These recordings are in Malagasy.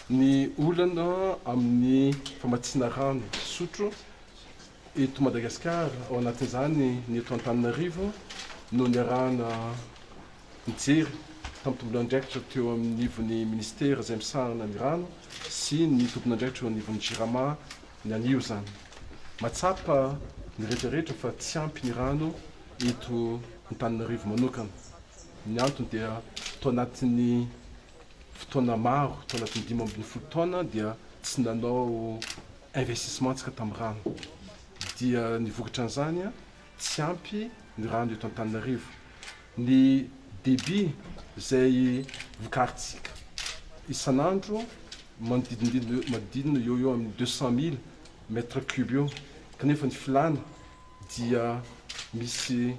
Ny olana amin'ny famatsiana rano fisotro eto Madagasikara, ao anatin'izany ny eto Antananarivo, no niarahana nijery tamin'ny tomponandraikitra teo anivon'ny minisitera izay misahana ny rano sy ny tomponandraikitra eo anivon'ny Jirama ny anio izany. Mahatsapa ny rehetra rehetra fa tsy ampy ny rano eto Antananarivo manokana. Ny antony dia tao anatin'ny fotoana maro, tao anatin'ny dimy ambin'ny folo taona dia tsy nanao investissement tsika tamin'ny rano. Dia ny vokatra an'izany, tsy ampy ny rano eto Antananarivo. Ny débit izay vokarintsika isan'andro manodidididina manodidina eo ho eo amin'ny deux cent mille mètre cube eo, kanefa ny filàna dia misy.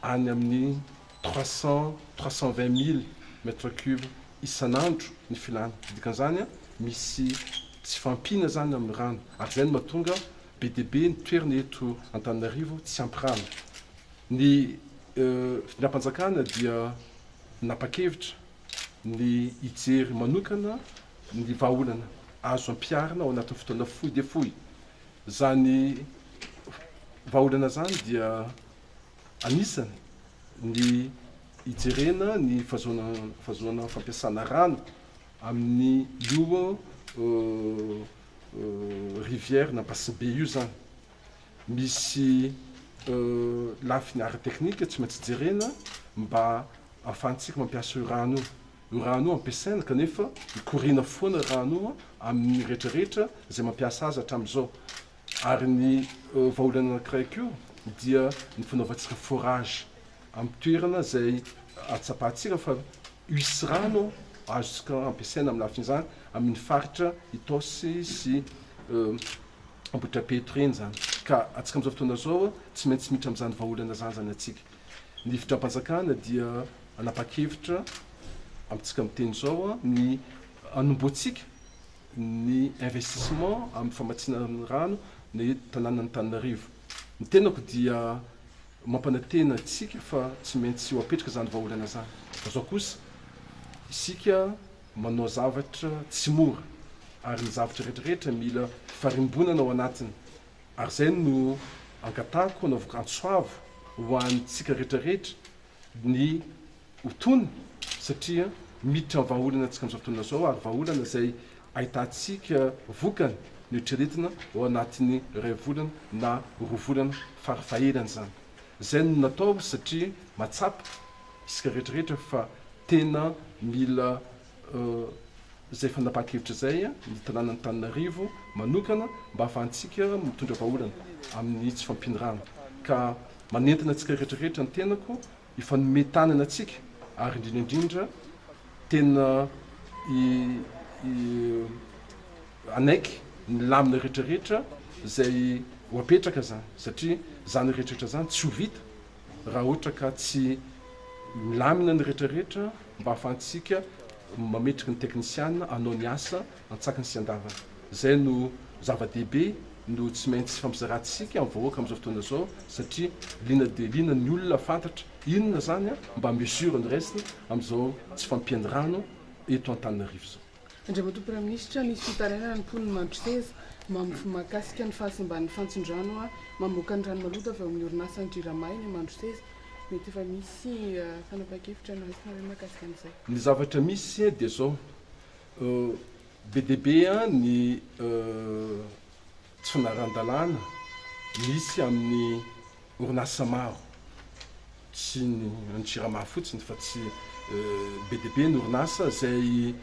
any amin'ny trois cent, trois cent vingt mille mètres cubes isan'andro ny filàna. Dikan'izany, misy tsy fahampiana izany amin'ny rano, ary izay no mahatonga be dia be ny toerana eto Antananarivo tsy ampy rano. Ny fitondram-panjakana dia nanapa-kevitra ny hijery manokana ny vahaolana azo ampiharina ao anatin'ny fotoana fohy dia fohy, Izany vahaolana izany dia anisany ny hijerena ny fahazoana fampiasana rano amin'ny io rivière na basibe io izany. Misy lafiny ara-teknika tsy maintsy jerena mba ahafahantsika mampiasa io rano io. Io rano io ampiasaina kanefa mikoriana foana rano io amin'ny rehetra rehetra izay mampiasa azy hatramin'izao. Ary ny vahaolana anankiray koa dia ny fanaovantsika forage amin'ny toerana izay atsapahantsika fa hisy rano azontsika ampiasaina amin'ny lafin'izany amin'ny faritra Itaosy sy Ambohitrapetro ireny izany. Ka antsika amin'izao fotoana izao tsy maintsy miditra amin'izany vahaolana izany izany antsika. Ny fitram-panjakana dia hanapa-kevitra amintsika miteny izao ny hanombohantsika ny investissement amin'ny famatsiana ny rano ny tanànan'Antananarivo. Ny tenako dia mampanantena antsika fa tsy maintsy ho apetraka izany vahaolana izany fa izao kosa isika manao zavatra tsy mora ary ny zavatra rehetrarehetra mila farimbonana ao anatiny Ary izay no angatahiko hanaovako antso avo ho antsika rehetra rehetra ny ho tony satria miditra ny vahaolana antsika amin'izao fotoana izao ary vahaolana izay ahitantsika vokany ny eritreretina ao anatin'ny iray volana na roa volana fara fahelany izany. Izay no natao satria mahatsapa isika rehetra rehetra fa tena mila izay fanapahan-kevitra izay ny tanànan'Antananarivo manokana mba hahafahantsika mitondra vahaolana amin'ny tsy fampian'ny rano ka manentana antsika rehetra rehetra ny tenako hifanome tanana antsika ary indrindra indrindra tena hanaiky ny lamina rehetra rehetra izay ho apetraka izany satria izany rehetra rehetra izany tsy ho vita raha ohatra ka tsy milamina ny rehetra rehetra mba ahafahantsika mametraka ny teknisiana hanao ny asa antsakany sy andavany. Izay no zava-dehibe no tsy maintsy fampizarantsika amin'ny vahoaka amin'izao fotoana izao satria liana dia liana ny olona fantatra inona izany mba mesure no raisina amin'izao tsy fampian'ny rano eto Antananarivo izao. Andriamatoa Praiminisitra, misy fitarainana ny mponin'i Mandroseza, mamf, mahakasika ny fahasimban'ny fantson-drano a mamoaka ny rano maloto avy ao amin'ny orinasan'ny Jirama eny Mandroseza. Mety efa misy fanapahan-kevitra noraisina ve mahakasika an'izay? Ny zavatra misy dia izao, be dia be ny tsy naran-dalàna misy amin'ny orinasa maro, tsy ny any Jirama fotsiny fa tsy be dia be ny orinasa izay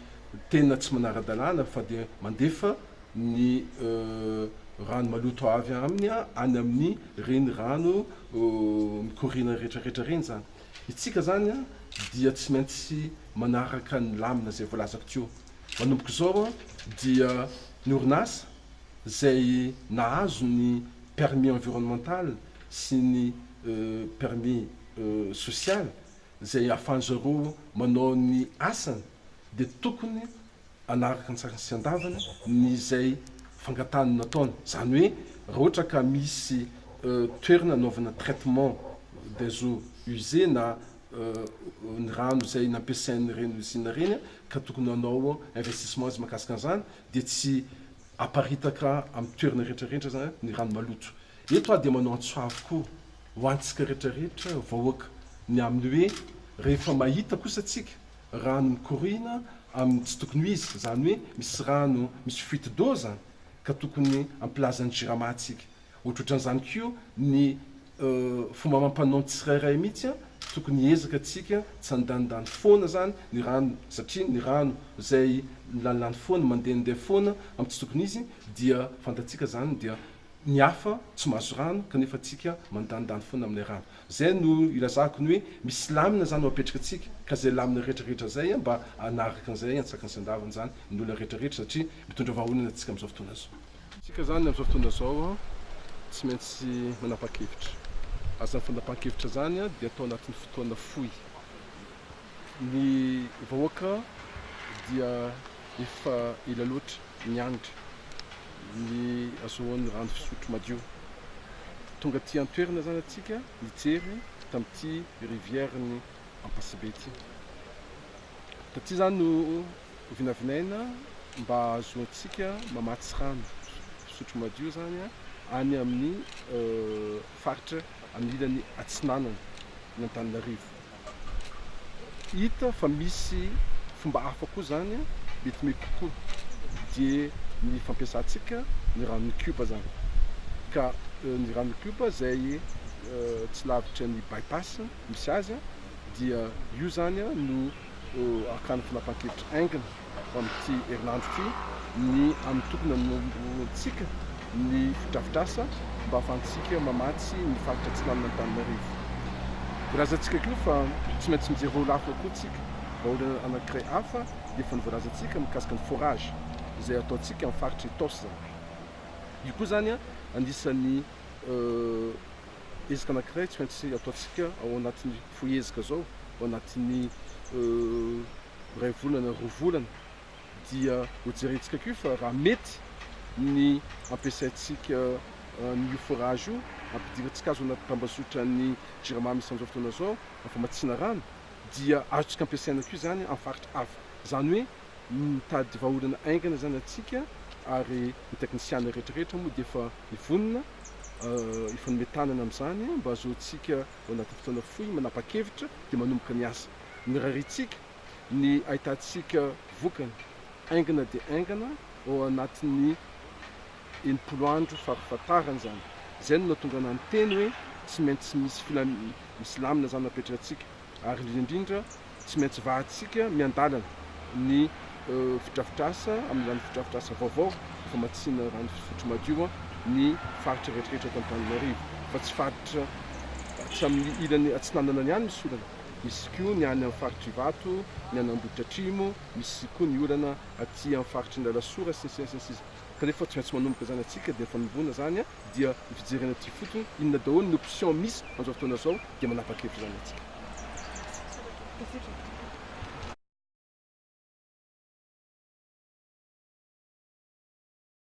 tena tsy manara-dalàna fa dia mandefa ny rano maloto avy aminy any amin'ny ireny rano mikoriana rehetrarehetra ireny izany. Isika izany dia tsy maintsy manaraka ny lamina izay voalazako teo. Manomboka izao dia ny orinasa. izay nahazo ny permis environnemental sy ny permis social izay ahafahan'ny zareo manao ny asany dia tokony hanaraka an-tsariny sy an-davany ny izay fangatahany nataony. Izany hoe raha ohatra ka misy toerana anaovana traitement des eaux usées na ny rano izay nampiasain'ireny usine ireny ka tokony hanao investissement izy mahakasika an'izany dia tsy aparitaka amin'ny toerana rehetrarehetra ny rano maloto. Eto aho dia manao antso avo koa ho antsika rehetrarehetra vahoaka ny amin'ny hoe rehefa mahita kosa tsika rano mikoriana amin'ny tsy tokony ho izy, izany hoe misy rano misy fuite d'eau izany ka tokony ampilaza ny jirama tsika. Otrotran'izany koa ny fomba amam-panao ny tsirairay mihitsy an! Tokony hiezaka tsika tsy handanindany foana izany ny rano satria ny rano izay milanilany foana, mandehandeha foana amin'ny tsy tokony izy dia fantatsika izany dia ny hafa tsy mahazo rano kanefa tsika mandanindany foana amin'ilay rano. Izay no ilazako ny hoe misy lamina izany no apetraka antsika ka izay lamina retraretra izay mba hanaraka an'izay antsakan'ny sandavany izany ny olona retraretra satria mitondra vahaolana antsika amin'izao fotoana izao. Isika izany amin'izao fotoana izao tsy maintsy manapa-kevitra. Ary izany fanapahan-kevitra izany dia atao anatin'ny fotoana fohy. Ny vahoaka dia efa ela loatra niandry ny hahazoany rano fisotro madio. Tonga aty an-toerana izany antsika nijery tamin'ity rivière-n'i Ampasibe ity. Taty izany no Vinavinaina mba hahazoantsika mamatsy rano fisotro madio izany any amin'ny faritra amin'ny ilany atsinanana an'Antananarivo. Hita fa misy fomba hafa koa izany mety mety kokoa dia ny fampiasantsika ny ranon'ny Cube izany. Ka ny ranon'ny Cube izay tsy lavitra ny By-pass misy azy dia io izany no ho hakàna fanapahan-kevitra haingana ho amin'ity herinandro ity ny amin'ny tokony hanombohantsika ny fotodrafitrasa mba hahafahantsika mamatsy ny faritra atsinanin'Antananarivo. Voalazantsika koa fa tsy maintsy mijery rôle hafa koa isika, vahaolana anankiray hafa efa novoalazantsika mikasika ny forage izay ataontsika amin'ny faritra Itaosy izany. Io koa izany anisan'ny ezaka anankiray tsy maintsy ataontsika ao anatin'ny. Fohy ezaka izao, ao anatin'ny iray volana, roa volana, dia hojerentsika koa fa raha mety ny ampiasaintsika an'io forage io, ampidirintsika azy ao anaty tambazotran'ny Jirama misy an'izao fotoana izao, famatsiana rano, dia azontsika ampiasaina koa izany amin'ny faritra hafa. Izany hoe mitady vahaolana haingana izany antsika ary ny teknisiana rehetrarehetra moa dia efa mivonona hifanome tanana amin'izany mba hahazoantsika Vao anaty fotoana fohy manapa-kevitra dia manomboka ny asa. Nirariantsika ny ahitantsika vokany haingana dia haingana ao anatin'ny enimpolo andro fahafatarany izany. Izay no nahatonga anah niteny hoe tsy maintsy misy filam-, misy lamina izany apetraktsika ary indrindra indrindra Tsy maintsy vahantsika miandalana ny fidrafitrasa amin'izany fidrafitrasa vaovao famatsiana rano fisotro madio ny faritra rehetrarehetra eto Antananarivo fa tsy faritra tsy amin'ny ilany atsinanana ihany misy olana, misy koa ny any amin'ny faritr'Ivato, ny any Amboditra Atrimo, misy koa ny olana aty amin'ny faritry ny Alasora sy ny sisa sy ny sisa kanefa tsy maintsy manomboka izany antsika dia fanomboana izany dia ny fijerena aty fotsiny inona daholo ny option misy an'izao fotoana izao dia manapa-kevitra izany antsika.